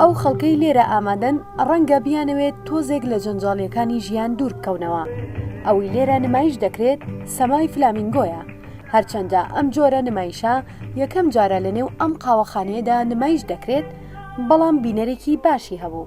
ئەو خەڵکەی لێرە ئامادەن ڕەنگە بیانەوێت تۆزێک لە جەنجاڵییەکانی ژیان دوور بکەونەوە. ئەوەی لێرە نمایش دەکرێت سەمای فلامینگۆیە، هەرچەندە ئەم جۆرە نمایشە یەکەم جارە لەنێو ئەم قاوەخانەیەدا نمایش دەکرێت، بەڵام بینەرێکی باشی هەبوو.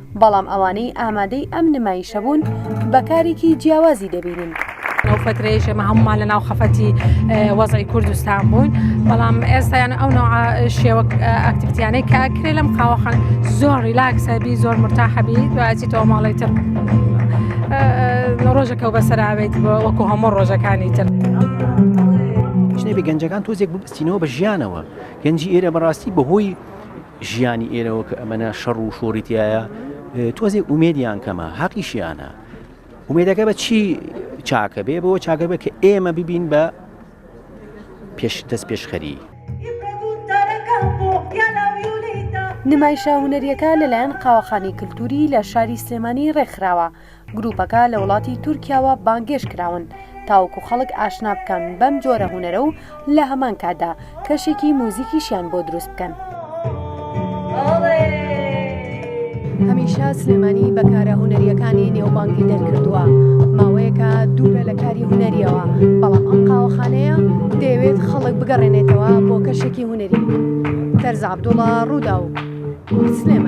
بەڵام ئەوانەی ئامادەی ئەم نمایشە بوون بە کارێکی جیاوازی دەبینین. ئەو فترەیەش ئێمە هەموومان لە ناو خەفەتی وەزعی کوردستان بووین بەڵام ئێستایان ئەو نوع شێوە ئەکتیویتیانەی کە کرێ لەم قاوەخان زۆر ریلاکسەبی زۆر مرتاحەبی دوایەتی تۆ ماڵی تر ڕۆژەکە و بەسەراوێت وەکو هەموو ڕۆژەکانی تر. ژنێبی گەنجەکان تۆزێک بستینەوە بە ژیانەوە گەنجی ئێرە بەڕاستی بەهۆی ژیانی ئێرەوە کە ئەمەنە شەڕ و شۆڕی تیایە تۆزێک ئومێدیان کەمە حەقیشیانە ئومێدەکە بە چی چاکە بێ بۆ چاکە بێ کە ئێمە ببین بە پێش دەست پێشخەری نمایشە هونەریەکە لەلایەن قاوەخانەی کللتوری لە شاری سلێمانی ڕێکخراوە گروپەکە لە وڵاتی تورکیاوە بانگێشت کراون تاوەکو خەڵک ئاشنا بکەن بەم جۆرە هونەرە و لە هەمان کاتدا کەشێکی موزیکیشیان بۆ دروست بکەن. هەمیشە سلێمانی بە کارە هونەریەکانی نێوبانگی دەرکردووە ماوەیەکە دوورە لە کاری هونەریەوە بەڵام ئەم قاوەخانەیە دەیەوێت خەڵک بگەڕێنێتەوە بۆ کەشێکی هونەری تەرزابدوڵە ڕوودا و سلێمانی